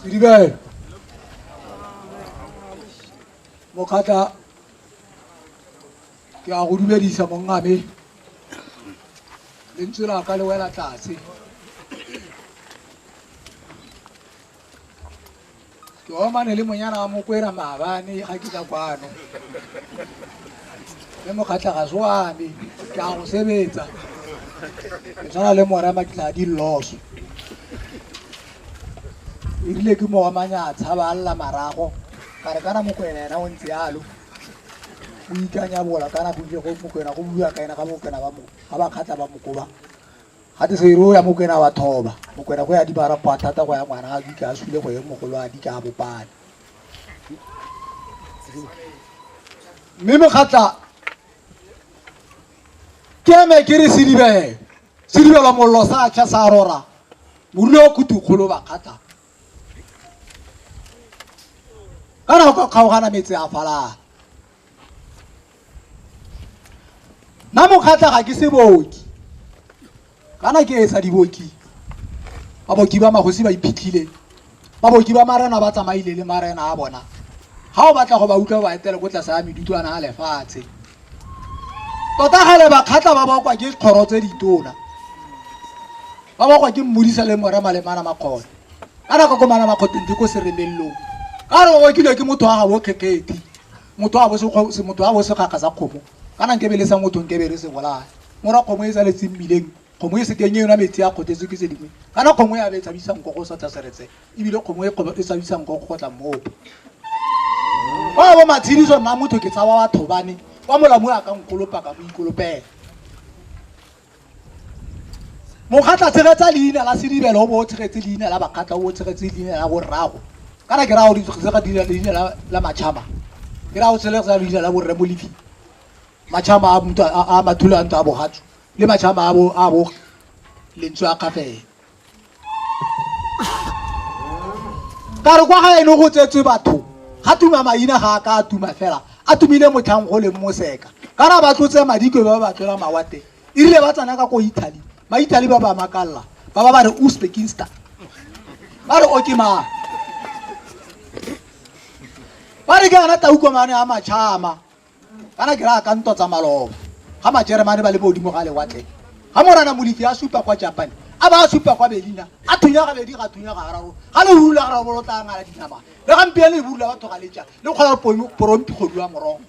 Sedibe. Mokgatla ke a go dumedisa mongame lentswe la ka le wela tlase ke omane le monyana wa mokwera maabane ga ke ka kwano le mokgatlhagase wa me ke a go sebetsa ke tshwana le morema ke tla di loso erile ke moomanya a tshaba a lla marago ka re kana mokwena ena o ntse yalo o ikanya bola kana go ile go mokwena go bua ka ena ga mokwena ba mo ga ba kgatla ba mokoba ga te se ro ya mokwena wa thoba mokwena go ya di bara kwa thata go ya ngwana a dika a sule go ye mogolo a dika a bopane mme mogatla ke eme ke re sedibele sedibela mollo sa tšha sa rora morule wa kutukgolo bakgatla ka nako kgaogana metse a falala nna mokgatlha ga ke se booki kana ke etsa diboki baboki ba magosi ba iphitlhile baboki ba marena ba tsamaile le marena a bona ga o batla go ba utlwa ba etele ko tlase ya medutlwana a lefatshe tota gale bakgatlha ba bakwa ke kgoro tse ditona ba bakwa ke mmodisa le more malemana makgone ka nako ko mana makgoteng di ko seremelelong ka re o bakilwe ke motho wa ga bokgekgethi motho a bo sekgakga sa kgomo kana nkebe le sa motho nkebe re se bolaya mora kgomo e sa letseng mmileng kgomo e sekeng e yona metsi a kgothetse ke se dingwe kana kgomo ya be e tshabisang go go sotla seretse ebile kgomo e e tshabisang go go tla mmopo ba bo matshidiso nna motho ke tshaba batho bane kwa molamu a ka nkolopaka mo ikolopela mokgatla tshegetsa leina la sedibelo o bo o tshegetse leina la bakgatla o bo o tshegetse leina la borrago kana ke raya go tsega dira leina la matšhama ke raya go tshegetsa leina la borre mo lefing matšhama a mutho a mathulo a ntse a bogatso le matšhama a bo a bo lentswe a kgafela ka re kwa ga ene go tsetswe batho ga tuma maina ga a ka a tuma fela a tumile motlhang go leng moseka ka ra ba tlotse madikwe ba ba tlola mawate e rile ba tsena ka ko italy maitaly ba ba makalela ba ba ba re uzbekinstan ba re oke mang ba re ke ana taukomane a matšhama kana ke raya ka ntwa tsa maloba ga majeremane ba le modimo ga lewatle ga morana molifi a supa kwa japan a ba a supa kwa belina a thunya ga bedi ga thunya ga gararo ga le rula ga rabolo tla ngala dinama le gampieno le burula batho ga leja le kgona porompi kgodu wa morogo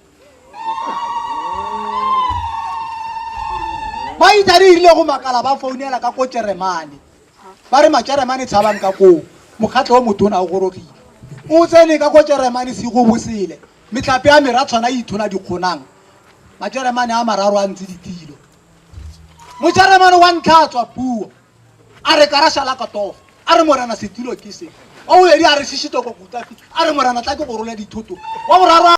ba itsa re irile go makala ba founela ka ko jeremane ba re majeremane tshabang ka koo mokgatlho o motona o gorogile o tsene ka ko jeremane se go bosele Metlhape ya mera tshwana e ithola dikgonang. Majeremane a mararo a ntse ditilo. Mojeremane wa ntlha a tswa puo, a re karasha la katofa, a re morena setulo ke se. Wa bobedi a re shishito ko kutafi, a re morena tla ke go rola dithoto. Wa boraro a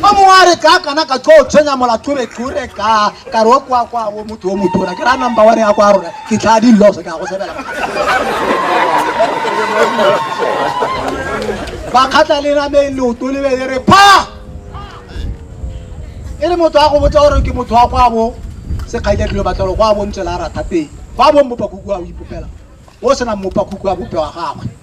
Wa mongwe a re ka kana ka tlo tshwenya molatho re tlore ka. ka re o kwa kwa o motho o motona ke ra number one ya kwa rona ke tlhaa di loso ke a go sebela bakgatla le nameng leoto le bele re pha e le motho a go botsa gore ke motho wa kwa bo sekgaile dilo batlelo kwa bo ntse la ratha pele kwa bo mmopakuku a o ipopela o senang mmopakuku a bope wa gagwe